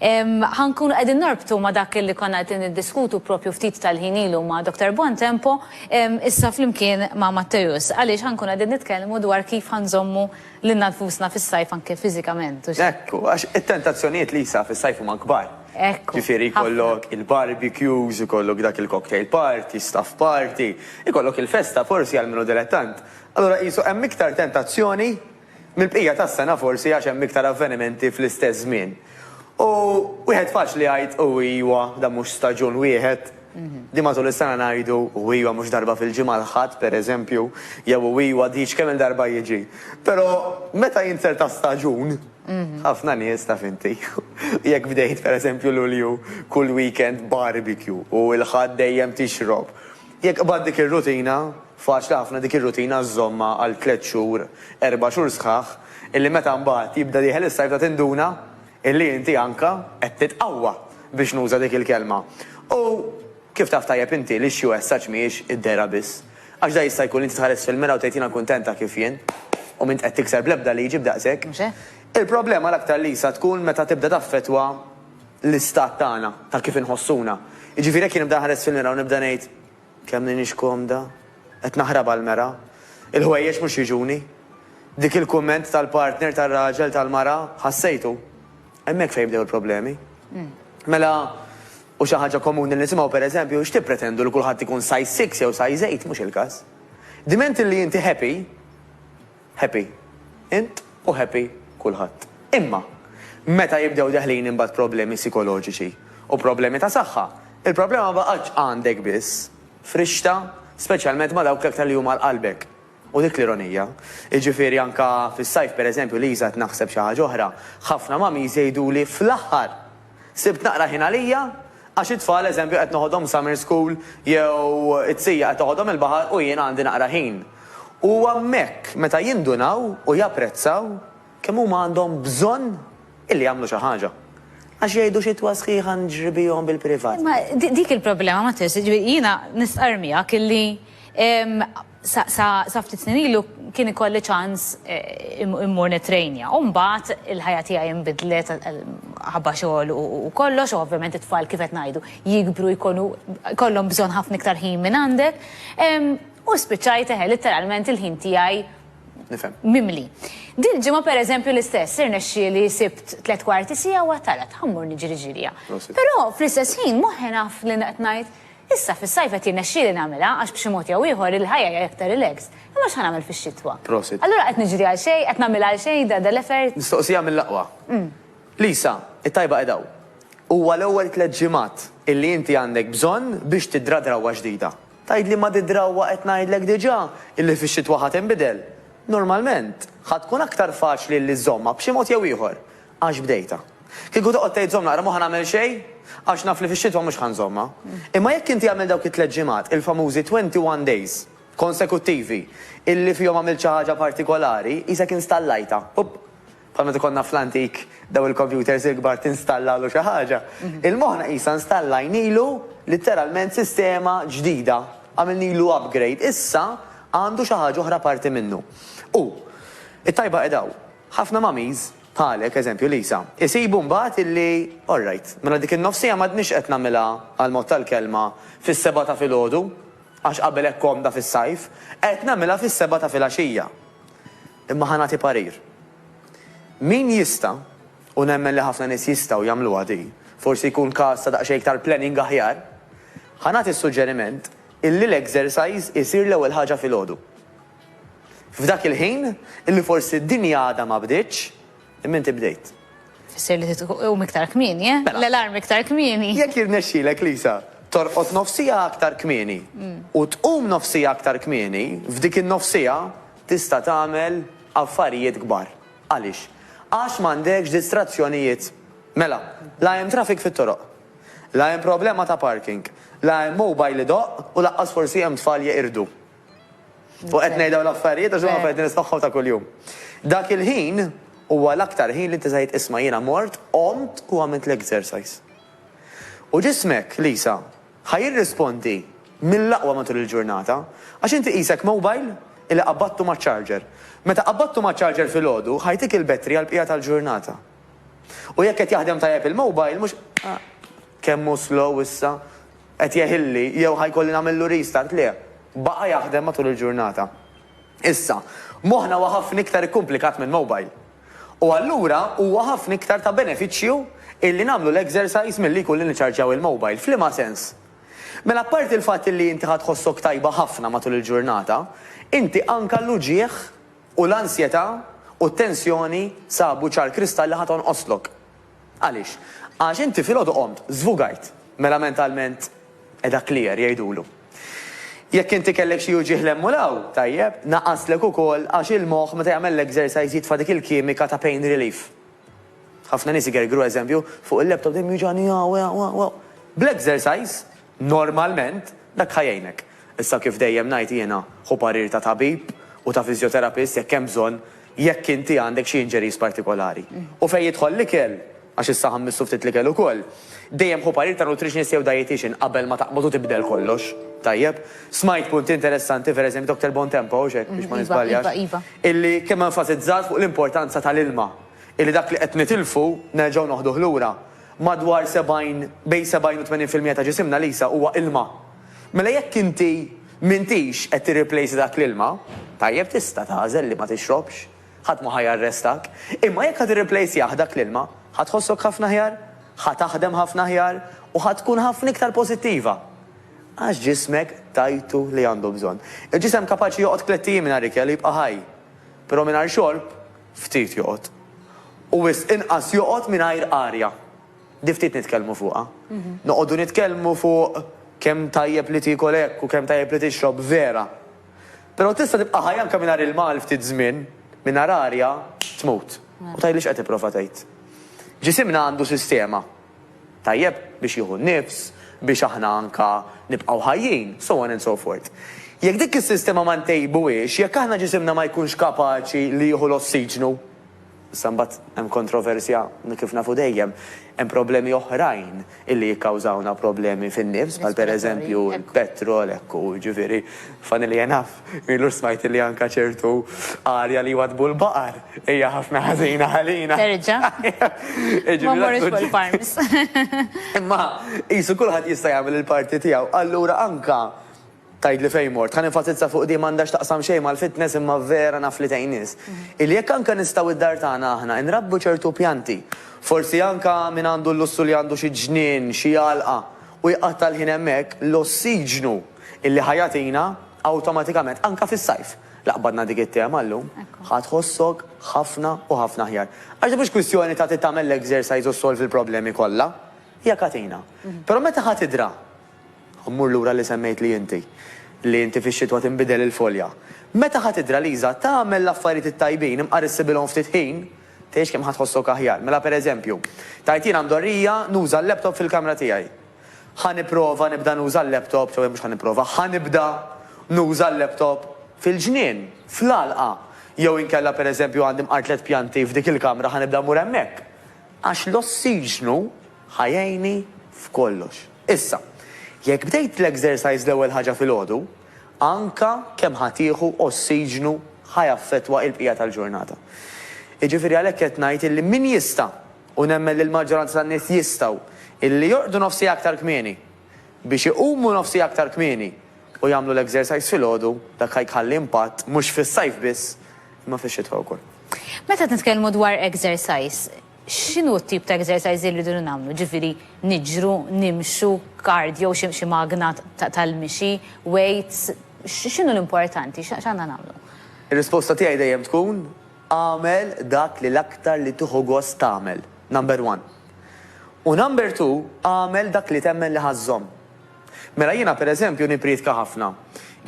Ħa nkunu qegħdin norbtu ma' dak li konna qegħdin niddiskutu proprju ftit tal-ħin ilu ma' Dottor Buontempo, issa flimkien ma' Matteus, għaliex ħa nkunu qegħdin nitkellmu dwar kif ħa nżommu lilna nfusna fis-sajf anke fiżikament, hux hekk? Hekk hu, għax it-tentazzjonijiet Lisa fis-sajf huma kbar. Hekk hu. Ġifieri jkollok il-barbecues, ikollok dak il-cocktail party, staff party, ikollok il-festa forsi għal min hu dilettant. Allura qisu hemm iktar tentazzjoni. Mill-bqija tas-sena forsi għax hemm iktar avvenimenti fl-istess żmien. U wieħed faċli jgħid u iwa dan mhux staġun wieħed, din matul is-sena ngħidu u iwa mhux darba fil-ġimgħa l-Ħadd pereżempju jew u iwa diġ kemm-il darba jiġi. Però meta jinser ta' staġun, ħafna nies taf inti, jekk bdejt pereżempju Lulju kull weekend barbecue u l-Ħadd dejjem tixrob, jekk qbadt dik ir-rutina, Faċli ħafna dik ir-rutina żżommha għal tliet xhur, erba' xhur sħaħ, illi meta mbagħad jibda dieħel is-sajf ta' tinduna illi inti anka qed titqawwa, biex nuża dik il-kelma. U kif taf tajjeb inti li xi wessaġġ mhijiex id-dehra biss. Għax da jista' jkun li inti tħares fil-mira u tgħid jiena kuntent ta' kif jien u m'int qed tikser bl-ebda liġi b'daqsek. Mhux hekk? Il-problema l-aktar li jsa tkun meta tibda taffettwa l-istat tagħna, ta' kif inħossuna. Jiġifieri jekk jien nibda nħares fil-mira u nibda ngħid, Kemm m'iniex komda. Qed naħrab għall-mera. Il-ħwejjeġ mhux jiġuni. Dik il-kumment tal-partner tar-raġel tal-mara ħassejtu. Hemmhekk fejn bdew il-problemi. Mela, hu xi ħaġa komuni li nisimgħu, pereżempju, x'tippretendu li kulħadd ikun size six jew size eight? Mhux il-każ. Dment li inti happy, Happy int u happy kulħadd. Imma, meta jibdew deħlin imbagħad problemi sikoloġiċi u problemi ta' saħħa, il-problema ma baqgħetx għandek biss, frixta speċjalment ma' dawk l-aktar li huma għal qalbek. U dik l-ironija. Jiġifieri anke fis-sajf pereżempju, Liża qed naħseb xi ħaġa oħra, ħafna mummies jgħiduli fl-aħħar! Sibt naqra ħin għalija għax it-tfal eżempju qed noħodhom summer school jew it-sija qed toħodhom il-baħar u jiena għandi naqra ħin. U huwa hemmhekk meta jindunaw u japprezzaw kemm huma għandhom bżonn illi jagħmlu xi ħaġa. Għax jgħidu xitwa sħiħa nġribihom bil-privat. Imma dik il-problema Matteo, jiġifieri jiena nistqarr miegħek illi Sa ftit snin ilu kien ikolli ċans immur nittrejnja u mbagħad il-ħajja tiegħi inbidlet ħabba xogħol u kollox u ovvjament it-tfal kif qed ngħidu jikbru jkunu jkollhom bżonn ħafna iktar ħin minn għandek u spiċċajt eħe litteralment il-ħin tiegħi mimli. Dil-ġimgħa pereżempju l-istess irnexxieli sibt tliet kwarti siegħa u għedt ara ħa mmur niġri ġirja. Però fl-istess ħin moħħi naf li qed ngħid Issa fis-sajf qed jirnexxieli nagħmilha għax b'xi mod jew ieħor il-ħajja hija iktar relaxed. Imma x'ħa nagħmel fix-xitwa? Prosit. Allura qed niġri għal xejn? Qed nagħmilha għal xejn da dal-effort? Mistoqsija mill-aqwa. Lisa, it-tajba qiegħda hawn. Huwa l-ewwel tliet ġimgħat illi inti għandek bżonn biex tidra drawwa ġdida. Tgħidli ma di drawwa qed ngħidlek diġà illi fix-xitwa ħa tinbidel. Normalment, ħa tkun aktar faċli illi żżommha b'xi mod jew ieħor. Għax bdejtha. Kieku toqgħod tgħid żomm naqra m'hu ħa nagħmel xejn għax naf li fix-xitwa mhux ħa nżommha. Imma jekk inti għamilt dawk it-tliet ġimgħat, il-famużi twenty one days, konsekuttivi, illi fihom għamilt xi ħaġa partikolari, qisek installajtha. Up! Bħal meta konna fl-antik dawn il-kompjuters il-kbar tinstallalu xi ħaġa. Il-moħħna qisha nstallajnilu litteralment sistema ġdida, għamilnilu upgrade. Issa għandu xi ħaġa oħra apparti minnu. U, it-tajba qiegħda hawn. Ħafna mummies, bħalek, eżempju Lisa, isibu mbagħad illi, alright, mela dik in-nofsija m'għadnix qed nagħmilha, għall-mod tal-kelma, fis-sebgħa ta' filgħodu, għax qabel hekk komda fis-sajf, qed nagħmilha fis-sebgħa ta' filgħaxija. Imma ħa nagħti parir. Min jista', u nemmen li ħafna nies jistgħu jagħmluha di, forsi jkun każ ta' daqsxejn iktar planning aħjar, ħa nagħti s-suġġeriment illi l-exercise isir l-ewwel ħaġa filgħodu. F'dak il-ħin, illi forsi d-dinja għadha ma bdietx, imma inti bdejt. Tfisser li tqum iktar kmieni, eh? Mela. L-alarm iktar kmieni. Jekk jirnexxilek, Lisa, torqod nofsiegħa aktar kmieni u tqum nofsiegħa aktar kmieni, f'dik in-nofsiegħa tista' tagħmel affarijiet kbar. Għaliex? Għax m'għandekx distrazzjonijiet. Mela, la hemm traffic fit-toroq. La hemm problema ta' parking. La hemm mobile idoqq u lanqas forsi hemm tfal jeqirdu. U qed ngħid dawn l-affarijiet għax huma affarijiet li nismagħhom ta' kuljum. Dak il-ħin huwa l-aktar ħin li inti tgħid isma' jiena mort, qomt u għamilt l-exercise. U ġismek, Lisa, ħa jirrispondi mill-aqwa matul il-ġurnata, għax inti qisek mobile illi qabadtu maċ-charger. Meta qabadtu maċ-charger filgħodu, ħa jtik il-battery għall-bqija tal-ġurnata. U jekk qed jaħdem tajjeb il-mobile mhux kemm hu slow issa, qed jeħilli jew ħa jkolli nagħmillu restart le, baqa' jaħdem matul il-ġurnata. Issa, moħħna huwa ħafna iktar ikkumplikat minn mobile. U allura huwa ħafna iktar ta' benefiċċju illi nagħmlu l-exercise milli jkun li niċċarġjaw il-mobile. F'liema sens? Mela apparti l-fatt illi inti ħa tħossok tajba ħafna matul il-ġurnata, inti anka l-uġigħ, U l-ansjetà u t-tensjoni sabu ċar kristall li ħa tonqoslok. Għaliex? Għax inti filgħodu qomt, żvugajt, mela mentalment qiegħda clear, jgħidulu. Jekk inti kellek xi uġigħ 'l hemm u 'l hawn, tajjeb, naqaslek ukoll għax il-moħħ meta jagħmel l-exercise jitfa' dik il-kimika ta' pain relief. Ħafna nies igergru, eżempju, fuq il-laptop dejjem jiwġagħni hawn u hawn u hawn. Bl-exercise, normalment, dak ħa jgħinek. Issa kif dejjem ngħid jiena, ħu parir ta' tabib u ta' physiotherapist jekk hemm bżonn, jekk inti għandek xi injuries partikolari. U fejn jidħol l-ikel, għax issa ħa mmissu ftit l-ikel ukoll, dejjem ħu parir ta' nutritionist jew dietician qabel ma taqbad u tibdel kollox. Tajjeb? Smajt punti interessanti, per eżempju, Doctor Bontempo, hawnx hekk, biex ma niżbaljax. illi kemm enfasizzat fuq l-importanza tal-ilma, illi dak li qed nitilfu nerġgħu noħduh lura. Madwar 70, bejn 70 u 80 fil-mija ta' ġisimna, Lisa, huwa ilma. Mela jekk inti m'intix qed tirriplejsa dak l-ilma, tajjeb tista' tagħżel li ma tixrobx, ħadd ma ħa jarrestak, imma jekk ħa tirriplejsjah dak l-ilma, ħa tħossok ħafna aħjar, ħa taħdem ħafna aħjar u ħa tkun ħafna iktar pożittiva. Għax ġismek tajtu li għandu bżonn. Il-ġisem kapaċi joqgħod tlett ijiem mingħajr ikel u jibqa' ħaj. Però mingħajr xorb, ftit joqgħod. U wisq inqas joqgħod mingħajr arja. Di ftit nitkellmu fuqha. Noqogħdu nitkellmu fuq kemm tajjeb li tiekol hekk u kemm tajjeb li tixrob, vera. Però tista' tibqa' ħaj anke mingħajr ilma għal ftit żmien, mingħajr arja tmut. U tgħidli x'qed tipprova tgħid. Ġisimna għandu sistema. tajjeb biex jieħu n-nifs, biex aħna anke nibqgħu ħajjin, so on and so forth. Jekk dik is-sistema ma ntejbuhiex, jekk aħna ġisimna ma jkunx kapaċi li jieħu l-ossiġnu, issa mbagħad hemm kontroversja kif nafu dejjem, hemm problemi oħrajn illi jikkawżawna problemi fin-nifs bħal pereżempju l-petrol, hekk hu, jiġifieri funnily enough. Ilu smajt li anka ċertu arja li jwadbu l-baqar hija ħafna ħażina ħalina. Terġa. Ma morrux fuq il-farms. Imma qisu kulħadd jista' jagħmel il-parti tiegħu. Allura anka tgħidli fejn mort, ħa nenfasizza fuq din m'għandhax taqsam xejn mal-fitness imma vera naf li tgħin nies. Illi jekk anka nistgħu d-dar tagħna aħna nrabbu ċertu pjanti, forsi anka min għandu l-lussu li għandu xi ġnien, xi għalqa u jqatta' l-ħin hemmhekk, l-ossiġnu, Illi ħa jagħtina awtomatikament, anke fis-sajf, la qbadna dik it-tema llum, ħa tħossok ħafna u ħafna aħjar. Għax din mhux kwistjoni ta' trid tagħmel l-exercise u ssolvi l-problemi kollha. Hija katina. Però meta ħa tidra, u mmur lura li semmejtli inti, li inti fix-xitwa tinbidel il-folja, meta ħa tidra Liża tagħmel l-affarijiet it-tajbin imqarrissibilhom ftit ħin, tgħix kemm ħa tħossok aħjar. Mela pereżempju, tgħid jiena mdorrija nuża l-laptop fil-kamra tiegħi. Ħa nipprova nibda nuża l-laptop, ġewwa mhux ħa nipprova, ħa nibda nuża l-laptop fil-ġnien, fl-għalqa, jew inkella pereżempju għandi mqar tliet pjanti f'dik il-kamra ħa nibda mmur hemmhekk. Għax l-ossiġnu ħa jgħinni f'kollox. Issa, jekk bdejt l-exercise l-ewwel ħaġa filgħodu, anke kemm ħa tieħu ossiġnu ħa jaffettwa l-bqija tal-ġurnata. Jiġifieri għalhekk qed ngħid illi min jista' U nemmen li l-maġġoranza tan-nies jistgħu illi jorqdu nofs siegħa aktar kmieni, biex iqumu nofs siegħa aktar kmieni u jagħmlu l-exercise filgħodu, dak ħa jkhalli impatt mhux fis-sajf biss, imma fix-xitwa wkoll. Meta qed nitkellmu dwar exercise, x'inhu t-tip ta' exercise li rridu nagħmlu? Ġifieri niġru, nimxu, cardio, xi xi magna tal-mixi, weights, x'inhu l-importanti, x'għandna nagħmlu? Ir-risposta tiegħi dejjem tkun Agħmel dak li l-aktar li tieħu gost tagħmel, number one. U number two, agħmel dak li temmen li ħa żżomm. Mela jiena per eżempju nippriedka ħafna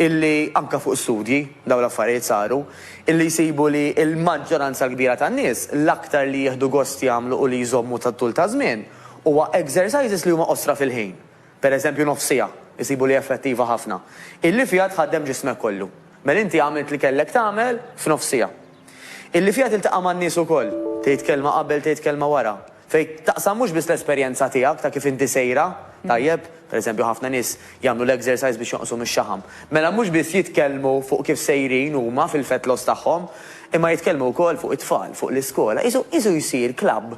illi anke fuq studji, dawn l-affarijiet saru, illi jsibu li l-maġġoranza l-kbira tan-nies l-aktar li jieħdu gost jagħmlu u li jżommu tat-tul taż-żmien huwa exercises li huma qosra fil-ħin. per eżempju nofs siegħa, isibu li effettiva ħafna, illi fiha tħaddem ġismek kollu. Mela inti għamilt li kellek tagħmel f'nofs siegħa. Illi fiha tiltaqa' man-nies ukoll, tgħid kelma qabel tgħid kelma wara, fejn taqsam mhux biss l-esperjenza tiegħek ta' kif inti sejra, tajjeb, per eżempju ħafna nies jagħmlu l-exercise biex jonqsu mix-xaħam. Mela mhux biss jitkellmu fuq kif sejrin huma fil-fat loss tagħhom, imma jitkellmu wkoll fuq it-tfal, fuq l-iskola, qisu qisu jsir club.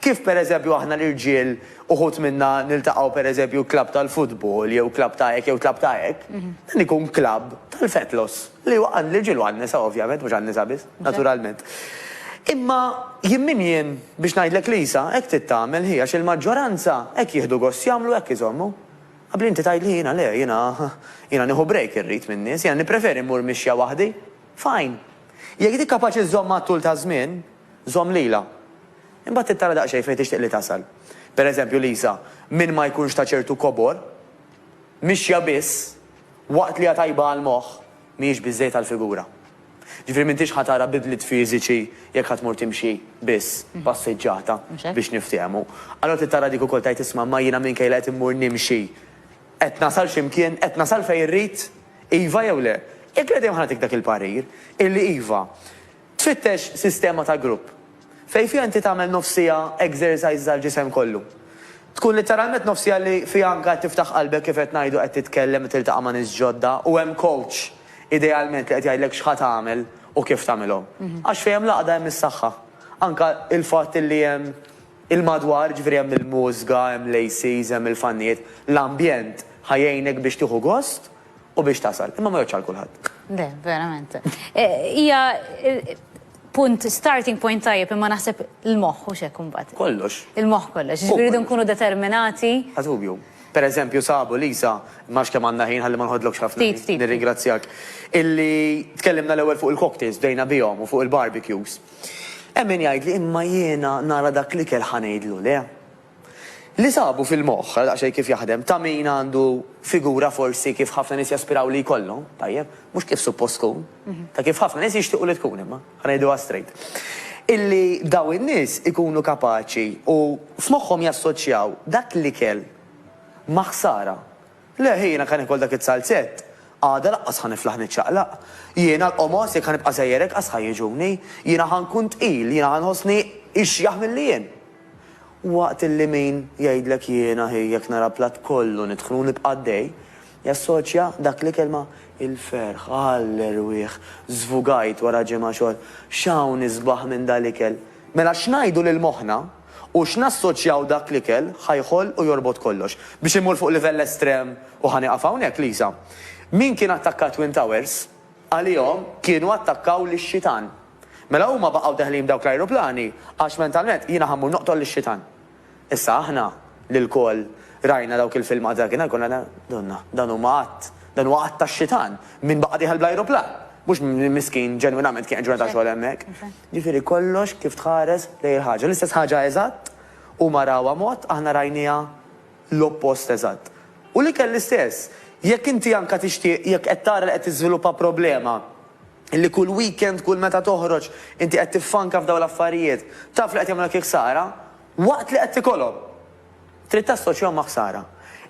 Kif pereżempju aħna l-irġiel uħud minna niltaqgħu pereżempju klabb tal-futbol jew klabb ta' hekk jew klabb ta' hekk, dan ikun klabb tal-fetlos li huwa għall-irġiel u għan-nisa ovvjament, mhux għan-nisa biss, naturalment. Imma jien min jien biex ngħidlek li Isa hekk trid tagħmel hi għax il-maġġoranza hekk jieħdu gost jagħmlu hekk iżommu. Abbli inti tgħidli jiena le, jiena jiena nieħu break irrid min-nies, jiena nippreferi mmur mixja waħdi. Fine. Jekk dik kapaċi żżomm għat-tul taż-żmien, Żomm lilha. Imbagħad trid tara daqsxejn fejn tixtieq li tasal. Per eżempju, Lisa, min ma jkunx ta' ċertu kobor, mixja biss, waqt li hija tajba għall-moħħ, mhijiex biżżejjed għall-figura. Ġifieri m'intix ħa tara bidliet fiżiċi jekk ħa tmur timxi biss, passiġġata, biex niftehmu. Allura trid tara dik ukoll tgħid isma' imma jiena minkejja li qed immur nimxi, qed nasal xi mkien, qed nasal fejn irrid? Iva jew le? Jekk le dejjem ħa nagħtik dak il-parir, illi iva. Tfittex sistema ta' grupp fejn fiha inti tagħmel nofs siegħa exercises għall-ġisem kollu. Tkun litteralment nofs siegħa li fiha anke qed tiftaħ qalbek kif qed ngħidu qed titkellem u tiltaqa' ma' nies ġodda u hemm coach idealment li qed jgħidlek x'ħa tagħmel u kif tagħmilhom. Għax fejn hemm l-għaqda hemm is-saħħa. Anke il-fatt illi hemm il-madwar, jiġifieri hemm il-mużga, hemm l-ACs, hemm il-fannijiet, l-ambjent ħa jgħinek biex tieħu gost u biex tasal, imma ma jgħodx għal kulħadd. Le, verament. E, hija punt starting point tajjeb imma naħseb il-moħħ u xek imbagħad. Kollox. Il-moħħ kollox. Ġifieri nkunu determinati. Għadubju. Per eżempju, sabu Lisa, max kemm għandna ħin ħalli ma nħodlokx ħafna. Ftit, ftit. Nirringrazzjak. Illi tkellimna l-ewwel fuq il-cocktails bdejna bihom u fuq il-barbecues. Emmin jgħid li imma jiena nara dak li kell ħanejdlu le. Li sabu fil-moħħ, ara daqsxejn kif jaħdem, ta' min għandu figura forsi kif ħafna nies jaspiraw li jkollhom, tajjeb, mhux kif suppost tkun, ta' kif ħafna nies jixtiequ li tkun imma, ħa ngħiduha straight. Illi dawn in-nies ikunu kapaċi u f'moħħhom jassoċjaw dak l-ikel ma' ħsara. Le, jiena ħa niekol dak iz-zalzett. Għada laqqas ħa niflaħ niċċaqlaq. Jiena l-qomos jekk ħa nibqa' sejjer hekk qas ħa jiġuni. Jiena ħa nkun tqil, jiena ħa nħossni ixjaħ milli jien. Waqt illi min jgħidlek jiena hi jekk nara platt kollu nidħnu u nibqa' għaddej, jassoċja dak l-kelma il-ferħ, għall-erwieħ, żvugajt wara ġimgħa xogħol, x'hawn isbaħ minn dal-ikel. Mela x'ngħidu lil moħħna? U x'nassoċjaw dak l-ikel ħa jħoll u jorbot kollox. Biex immur fuq livell estrem, u ħa nieqaf hawnhekk, Lisa, min kien attakka t-Twin Towers, għalihom kienu attakkaw lix-Xitan. Mela huma baqgħu deħlin b'dawk l-ajruplani għax mentalment jiena ħa mmur noqtol lix-Xitan. Issa aħna li lkoll rajna dawk il-filmat dakinhar konna, Donna, dawn huma għadd. Dan huwa att tax-xitan. Min baqa' dieħel bl-ajruplan? Mhux min miskin ġenwinament kien qed jagħmel xogħol hemmhekk. Jiġifieri kollox kif tħares lejn il-ħaġa. L-istess ħaġa eżatt, huma rawha mod, aħna rajniha l-oppost eżatt. U l-ikel l-istess. Jekk inti anke tixtieq, jekk qed tara li qed tiżviluppa problema, li kull weekend, kull meta toħroġ, inti qed tiffanka f'dawn l-affarijiet, taf li qed jagħmlulek il-ħsara, waqt li qed tikolhom. Trid tassoċjahom ma' ħsara.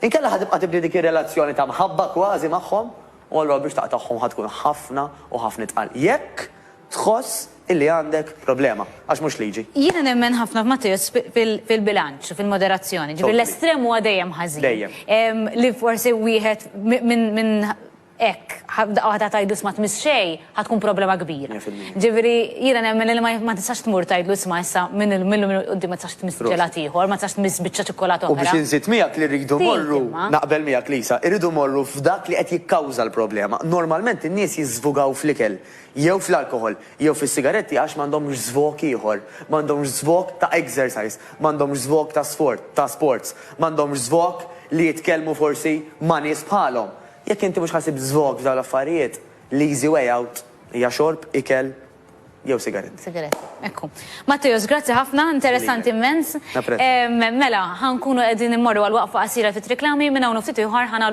Inkella ħa tibqa' tibni dik ir-relazzjoni ta' mħabba kważi magħhom, u allura biex taqtagħhom ħa tkun ħafna u ħafna itqal. Jekk tħoss illi għandek problema. Għax mhux liġi. Jiena nemmen ħafna f'Matteus fil-bilanċ u fil-moderazzjoni. Ġifieri l-estrem huwa dejjem ħażin. Dejjem. Li forsi wieħed minn hekk, daqqa waħda tgħidlu isma' tmiss xejn, ħa tkun problema kbira. Mija fil-mija. Ġifieri jiena nemmen li ma tistax tmur tgħidlu isma' issa minn illum il-quddiem ma tistax tmiss ġelat ieħor, ma tistax tmiss biċċa ċikkulata oħra. U biex inżid miegħek li rridu mmorru, naqbel miegħek Lisa, irridu mmorru f'dak li qed jikkawża l-problema. Normalment in-nies jiżżvugaw fl-ikel, jew fl-alkoħol, jew fis-sigaretti għax m'għandhomx żvog ieħor, m'għandhomx żvog ta' exercise, m'għandhomx żvog ta' sfort, ta' sports, m'għandhomx żvog li jitkellmu forsi ma' nies bħalhom. Jekk inti mhux ħasib żvog f'dawn l-affarijiet, l-easy way out hija xorb, ikel jew sigaretti. Sigaretti, hekk hu. Matteos, grazzi ħafna, interessanti immens. Napprezza. Mela, ħa nkunu qegħdin immorru għal waqfa qasira fit-triklami, minn hawn u ftit ieħor ħa nagħlqu.